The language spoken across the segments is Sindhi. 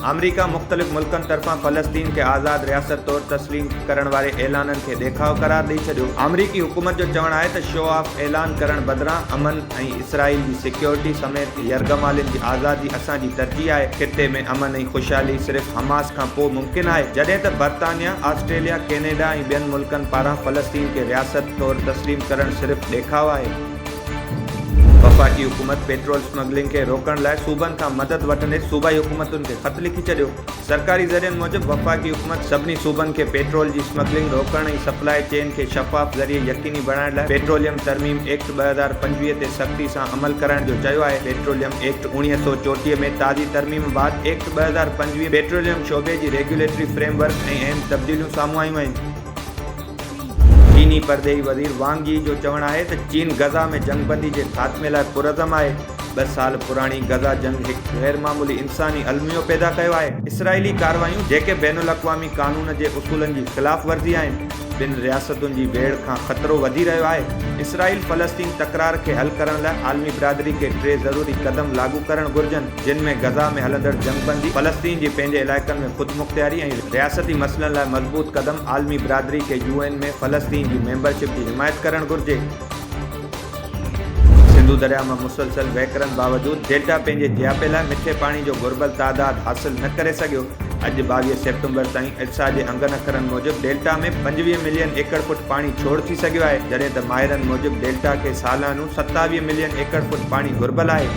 آمريڪا مختلف ملڪن طرفان فلسطين کي آزاد رياست طور تسليم ڪرڻ واري اعلانن کي ڏيکاء قرار ڏئي ڇڏيو آمريڪي حڪومت جو چوڻ آهي ته شو آف اعلان ڪرڻ بدران امن ۽ اسرائيل جي سيڪيورٽي سميت يرغمالين جي آزادي اسان جي ترجيح آهي، خطي ۾ امن ۽ خوشحالي صرف حماس کان پوء ممڪن آهي، جڏهن ته برطانيا، آسٽريليا، ڪينيڊا ۽ ٻين ملڪن پاران فلسطين کي رياست طور تسليم ڪرڻ صرف ڏيکاء آهي. وفاقي حڪومت پيٽرول اسمگلنگ کي روڪڻ لاء صوبن کان مدد وٺندي صوبائي حڪومتن کي خط لکي ڇڏيو. سرڪاري ذريعن موجب وفاقي حڪومت سڀني صوبن کي پيٽرول جي اسمگلنگ روڪڻ ۽ سپلاء چين کي شفاف ذريعي يقيني بڻائڻ لاء پيٽروليم ترميم ايڪٽ ٻه هزار پنجويهه تي سختي سان عمل ڪرائڻ جو چيو آهي پيٽروليم ايڪٽ اوڻيهه سؤ چوٽيهه ۾ تازي ترميم بعد ايڪٽ ٻه هزار پنجويهه پيٽروليم شعبي جي ريگيوليٽري فريم ورڪ ۾ اهم تبديليون سامهون آيون آهن چيني پرڏيهي وزير وانگ يي جو چوڻ آهي ته چين غزه ۾ جنگ بندي جي خاتمي لاء پرعزم آهي، ٻه سال پراڻي غزه جنگ هڪ غير معمولي انساني الميو پيدا ڪيو آهي، اسرائيلي ڪارروايون جيڪي بين الاقوامي قانون جي اصولن جي خلاف ورزي آهن، ٻن رياستن جي ويڙهه کان خطرو وڌي رهيو آهي، اسرائيل فلسطين تڪرار کي حل ڪرڻ لاء عالمي برادري کي ٽي ضروري قدم لاڳو ڪرڻ گهرجن. جن ۾ غزه ۾ هلندڙ جنگبندي، فلسطين جي پنهنجي علائقن ۾ خودمختياري ۽ رياستي مسئلن لاء مضبوط قدم، عالمي برادري کي يو اين ۾ فلسطين جي ميمبرشپ جي حمايت ڪرڻ گهرجي. سنڌو درياء مان مسلسل وهڪرن باوجود ڊيلٽا پنهنجي جياپي لاء مٺي پاڻي جو گهربل تعداد حاصل نه ڪري سگهيو، اڄ ٻاويهه سيپٽمبر تائين اٽسا جي انگن اکرن موجب ڊيلٽا ۾ پنجويهه ملين ايڪڙ فوٽ پاڻي ڇوڙ ٿي سگهيو آهي، جڏهن ته ماهرن موجب ڊيلٽا کي سالانو ستاويهه ملين ايڪڙ فوٽ پاڻي گهربل آهي.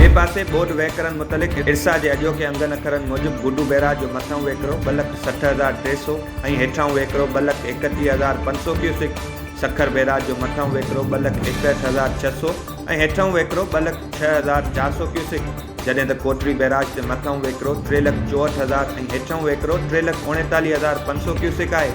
ٻئي پاسي ٻوڏ وهڪرن متعلق ارسا جي اڄوڪي انگن اکرن موجب گڊو بئراج جو مٿئون وهڪرو ٻه لک سٺ هزار ٽي سؤ ۽ هيٺئون وهڪرو ٻه لک ايڪٽيهه هزار پنج سؤ ڪيوسڪ، سکر بئراج جو مٿئون وهڪرو ٻه لک ايڪهٺ هزار ڇهه سؤ ۽ هيٺئون وهڪرو ٻه لک ڇهه هزار چار سؤ ڪيوسڪ، جڏهن ته ڪوٽڙي بئراج تي مٿئون وهڪرو ٽي لک چوهٺ هزار ۽ هيٺئون وهڪرو ٽي لک اوڻيتاليهه هزار پنج سؤ ڪيوسڪ آهي.